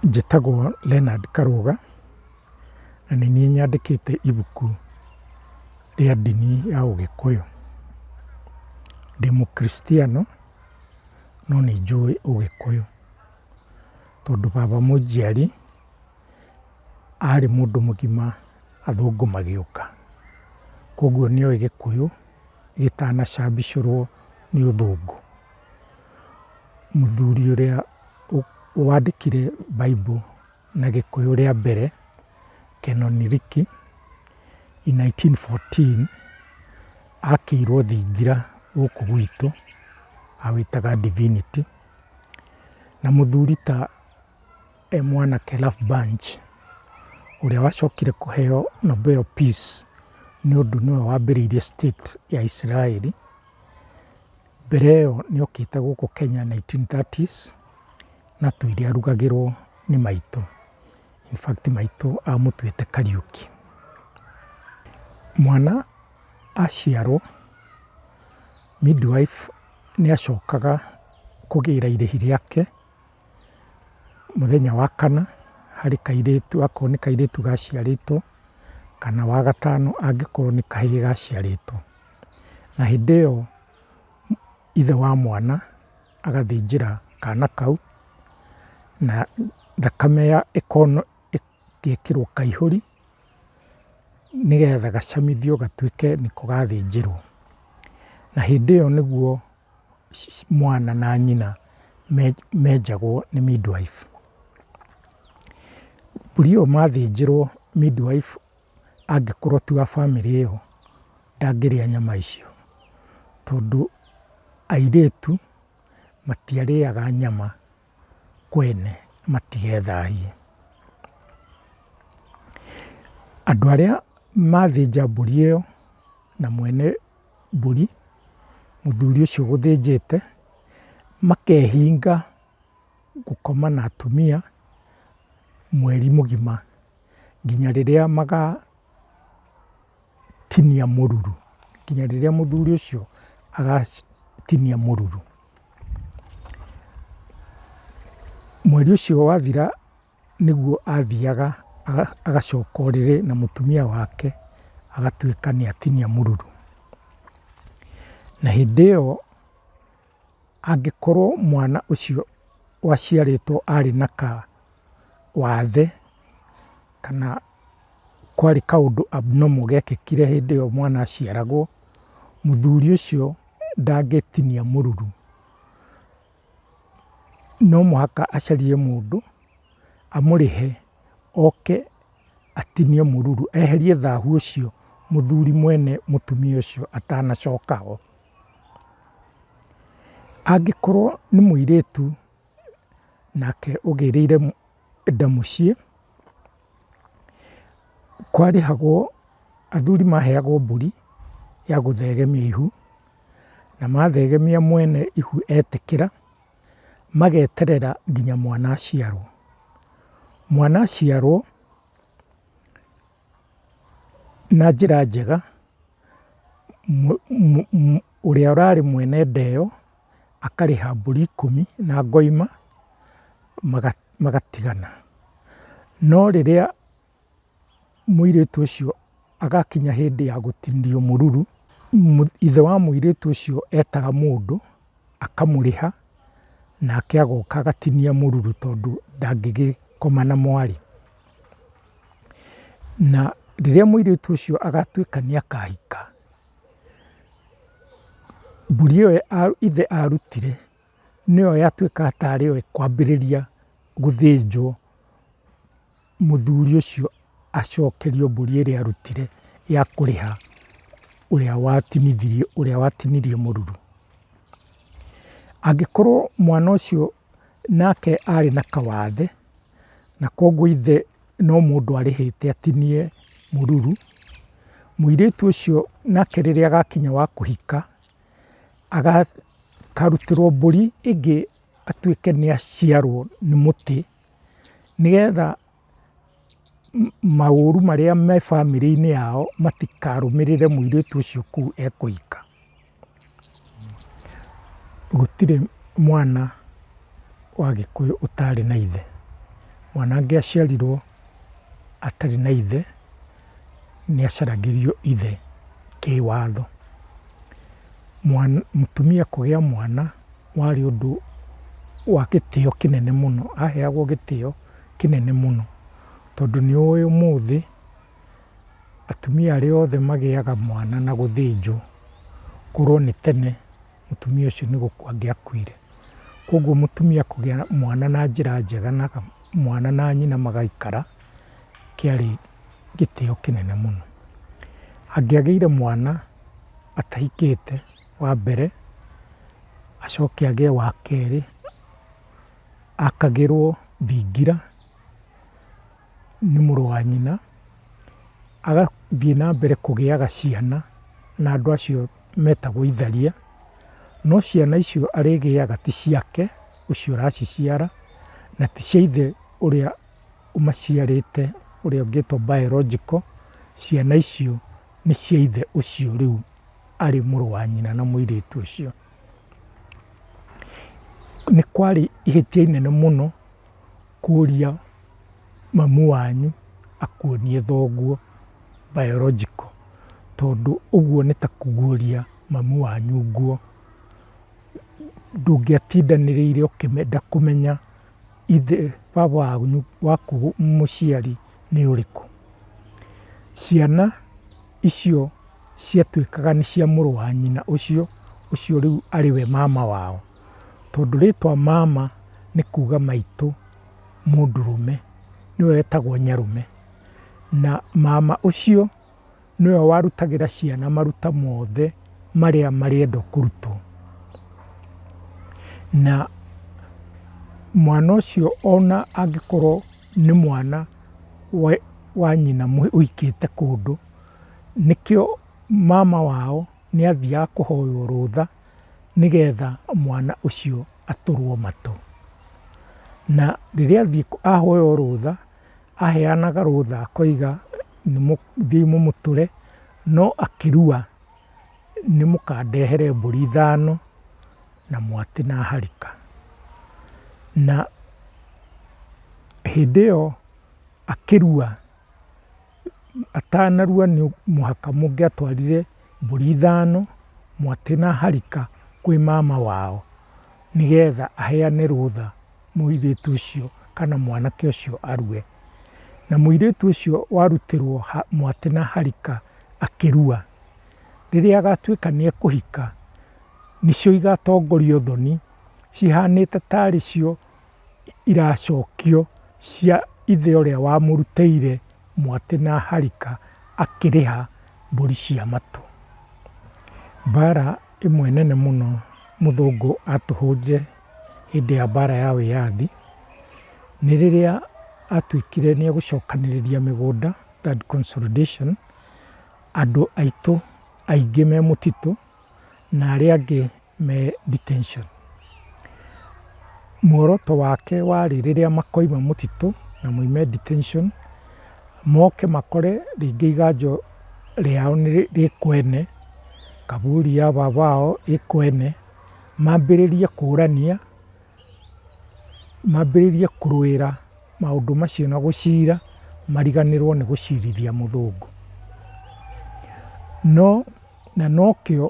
Njĩtagwo Leonard Karũga, na nĩ niĩ nyandĩkĩte ibuku rĩa ndini ya ũgĩkũyũ. Ndĩ mũkristiano no nĩ njũĩ ũgĩkũyũ, tondũ baba mũnjiari arĩ mũndũ mũgima athũngũ magĩũka, koguo nĩoĩ gĩkũyũ gĩtanacabicũrwo nĩ ũthũngũ. mũthuri ũrĩa wandĩkire Bible na gĩkũyũ rĩa mbere, Canon Riki, in nineteen fourteen, akĩirwo thingira gũkũ gwitũ, awĩtaga Divinity, na mũthuri ta e mwanake Lafbunch, ũrĩa wacokire kũheyo Nobel Peace, nĩ ũndũ nĩwe wambĩrĩirie state ya Isiraĩri, Mbere ĩyo nĩ okĩte gũkũ Kenya nineteen thirties na tũirĩ arugagĩrwo nĩ maitũ, in fact maitũ amũtuĩte Kariuki. Mwana aciarwo midwife nĩ acokaga kũgĩra irĩhi rĩake. mũthenya wa kana harĩ kairĩtu akorwo nĩ kairĩtu gaciarĩtwo, kana wa gatano angĩkorwo nĩ kahĩĩ gaciarĩtwo. Na hĩndĩ ĩyo ithe wa mwana agathĩnjĩra kana kau, na thakame ĩgekĩrwo kaihũri, nĩgetha gacamithio gatuĩke nĩko gathĩnjĩrwo. Na hĩndĩ ĩyo nĩguo mwana na nyina menjagwo nĩ midwife. Mbũri ĩyo mathĩnjĩrwo midwife angĩkorwo ti wa bamĩrĩ ĩyo ndangĩrĩa nyama icio, tondũ airĩtu matiarĩaga nyama kwene matigethahie. Andũ arĩa mathĩnja mbũri ĩyo na mwene... mbũri mũthuri ũcio ũgũthĩnjĩte, makehinga gũkoma na atumia mweri mũgima nginya rĩrĩa magatinia mũruru, nginya rĩrĩa mũthuri ũcio agatinia mũruru. Mweri ũcio wathira. nĩguo athiaga agacoka ũrĩrĩ na mũtumia wake agatuĩka nĩ atinia mũruru. Na hĩndĩ ĩyo angĩkorwo mwana ũcio waciarĩtwo arĩ na kawathe kana kwarĩ kaũndũ abnormal gekĩkire hĩndĩ ĩyo mwana aciaragwo, mũthuri ũcio ndangĩtinia mũruru. no mũhaka acarie mũndũ amũrĩhe oke atinie mũruru, eherie thahu ũcio mũthuri mwene mũtumia ũcio atanacoka ho. Angĩkorwo nĩ mũirĩtu nake ũgĩrĩire nda mũciĩ, kwarĩhagwo, athuri maheagwo mbũri ya gũthegemia ihu. na mathegemia mwene ihu etĩkĩra, mageterera nginya mwana aciarwo. Mwana aciarwo, na njĩra njega, ũrĩa ũrarĩ mwene nda ĩyo, akarĩha mbũri ikũmi na ngoima, magatigana. No rĩrĩa. mũirĩtu ũcio agakinya hĩndĩ ya gũtinio mũruru, ithe wa mũirĩtu ũcio etaga mũndũ akamũrĩha nake agoka agatinia mũruru tondũ ndangĩgĩkoma na mwarĩ. Na rĩrĩa mũirĩtu ũcio agatuĩka nĩ akahika, mbũri ĩyo ithe arutire nĩyo yatuĩkaga tarĩ yo ĩkwambĩrĩria gũthĩnjwo. mũthuri ũcio acokerio mbũri ĩrĩa arutire ya kũrĩha ũrĩa watinithirie, ũrĩa watinirie mũruru. Angĩkorwo mwana ũcio nake arĩ na kawathe, na koguo ithe no mũndũ arĩhĩte atinie mũruru, mũirĩtu ũcio nake rĩrĩa agakinya wa kũhika, akarutĩrwo mbũri ĩngĩ atuĩke nĩ aciarwo nĩ mũtĩ. nĩgetha maũru marĩa me bamĩrĩ-inĩ yao matikarũmĩrĩre mũirĩtu ũcio kũu ekũhika. Gũtirĩ mwana wa gĩkũyũ ũtarĩ na ithe, mwana angĩaciarirwo atarĩ na ithe. nĩacaragĩrio ithe kĩwatho. Mũtumia kũgĩa mwana warĩ ũndũ wa gĩtĩo kĩnene mũno, aheagwo gĩtĩo kĩnene mũno tondũ nĩũĩ ũmũthĩ atumia arĩa othe magĩaga mwana na gũthĩnjwo korwo nĩ tene. mũtumia ũcio nĩ gũkua angĩakuire. Koguo mũtumia kũgĩa mwana na njĩra njega na mwana na nyina magaikara kĩarĩ gĩtĩo kĩnene mũno. Angĩagĩire mwana atahikĩte wa mbere, acoke agĩe wa kerĩ, akagĩrwo thingira. nĩ mũrũ wa nyina, agathiĩ na mbere kũgĩaga ciana na andũ acio metagwo itharia, no ciana icio arĩgĩaga ti ciake ũcio ũraciciara, na ti cia ithe ũrĩa ũmaciarĩte ũrĩa ũngĩtwo biological, ciana icio nĩ cia ithe ũcio rĩu arĩ mũrũ wa nyina na mũirĩtu ũcio. Nĩ kwarĩ ihĩtia inene mũno. kũria mamu wanyu akuonie thoguo biological tondũ ũguo nĩ ta kũguria mamu wanyu nguo. Ndũngĩatindanĩrĩire ũkĩenda kũmenya ithe, baba wanyu waku mũciari nĩ ũrĩkũ. Ciana icio ciatuĩkaga nĩ cia mũrũ wa nyina ũcio, ũcio rĩu arĩ we mama wao. tondũ rĩtwa mama nĩ kuga maitũ mũndũrũme nĩwe wetagwo nyarũme. Na mama ũcio nĩwe warutagĩra ciana maruta mothe marĩa marĩenda kũrutwo. Na mwana ũcio ona angĩkorwo nĩ mwana wa nyina ũikĩte kũndũ, nĩkĩo mama wao nĩathiaga kũhoywo rũtha nĩgetha mwana ũcio atũrwo matũ. Na rĩrĩa athiĩ ahoywo rũtha, aheanaga rũtha akoiga thiĩi mũmũtũre, no akĩrua nĩ mũkandehere mbũri ithano na mwatĩ na harika. Na hĩndĩ ĩyo akĩrua... atanarua nĩ mũhaka mũngĩatwarire mbũri ithano, mwatĩ na harika kwĩ mama wao, nĩgetha aheane rũtha mũirĩtu ũcio kana mwanake ũcio arue. Na mũirĩtu ũcio warutĩrwo mwatĩ na harika akĩrua, rĩrĩa agatuĩka nĩ ekũhika, nĩcio igatongoria ũthoni, cihanĩte tarĩ cio. iracokio cia ithe ũrĩa wamũrutĩire mwatĩ na harika akĩrĩha mbũri cia matũ. Mbara ĩmwe nene mũno mũthũngũ atũhũnje hĩndĩ ya mbara ya wĩyathi, nĩ rĩrĩa atuĩkire nĩ egũcokanĩrĩria mĩgũnda, land consolidation, andũ aitũ aingĩ me mũtitũ na arĩa angĩ. me detention. Muoroto wake warĩ rĩrĩa makoima mũtitũ na moime detention, moke makore rĩngĩ iganjũ rĩao rĩ kwene, kaburi ya baba wao ĩ kwene, mambĩrĩrie kũrania, mambĩrĩrie kũrũĩra maũndũ macio na gũcira, mariganĩrwo nĩ gũcirithia mũthũngũ. No, na nokĩo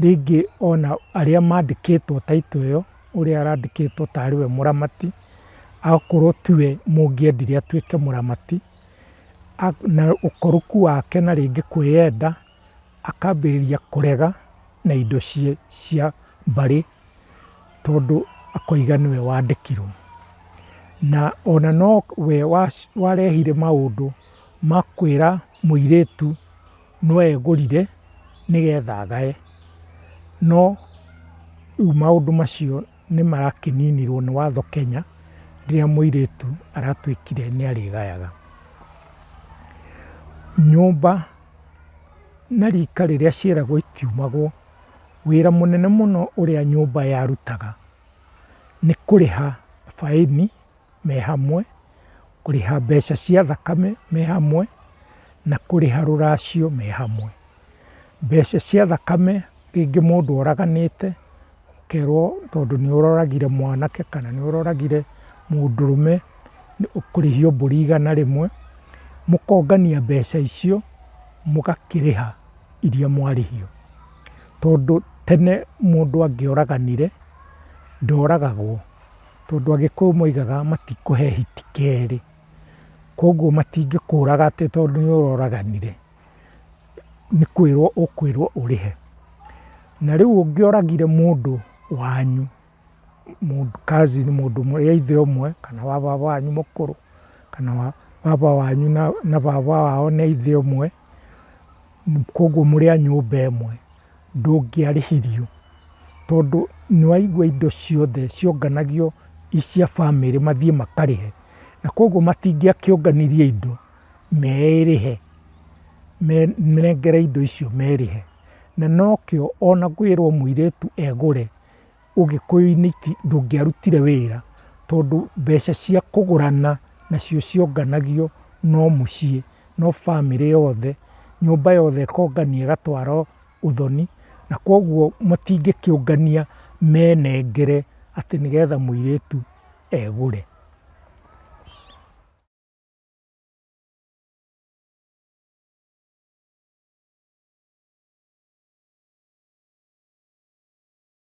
rĩngĩ ona arĩa mandĩkĩtwo title ĩyo, ũrĩa arandĩkĩtwo ta arĩ we mũramati, akorwo ti we mũngĩendire atuĩke mũramati, na ũkoroku wake na rĩngĩ kwĩyenda, akambĩrĩria kũrega na indo cia mbarĩ, tondũ akoiga nĩwe wandĩkirwo. Na ona no we warehire maũndũ ma kwĩra mũirĩtu no egũrire nĩgetha agae, no rĩu maũndũ macio nĩ marakĩninirwo nĩ watho Kenya, rĩrĩa mũirĩtu aratuĩkire nĩ arĩgayaga. Nyũmba na rika rĩrĩa cieragwo itiumagwo, wĩra mũnene mũno ũrĩa nyũmba yarutaga nĩ kũrĩha baĩni. me hamwe, kũrĩha mbeca cia thakame me hamwe, na kũrĩha rũracio me hamwe. Mbeca cia thakame rĩngĩ mũndũ oraganĩte, ũkerwo tondũ nĩ ũroragire mwanake kana nĩ ũroragire mũndũrũme nĩ ũkũrĩhio mbũri igana rĩmwe, mũkongania mbeca icio mũgakĩrĩha iria mwarĩhio. Tondũ tene mũndũ angĩoraganire ndoragagwo. tondũ Agĩkũyũ moigaga matikũhe hiti kerĩ, kogwo matingĩkũraga atĩ tondũ nĩ ũroraganire, nĩ kwĩrwo ũkwĩrwo ũrĩhe. Na rĩu ũngĩoragire mũndũ wanyu, cousin mũndũ wa ithe ũmwe kana wa baba wanyu mũkũrũ, kana wa baba wanyu na baba wao nĩ a ithe ũmwe, kogwo mũrĩ a nyũmba ĩmwe. ndũngĩarĩhirio tondũ nĩ waigua indo ciothe cionganagio i cia bamĩrĩ mathiĩ makarĩhe. Na koguo matingĩakĩũnganirie indo merĩhe, menengere indo icio merĩhe. Na nokĩo ona kwĩrwo mũirĩtu egũre ũgĩkũyũ-inĩ ndũngĩarutire wĩra, tondũ mbeca cia kũgũrana nacio cionganagio no mũciĩ, no bamĩrĩ yothe, nyũmba yothe ĩkongania ĩgatwara ũthoni, na kogwo matingĩkĩũngania menengere atĩ nĩgetha mũirĩtu egũre.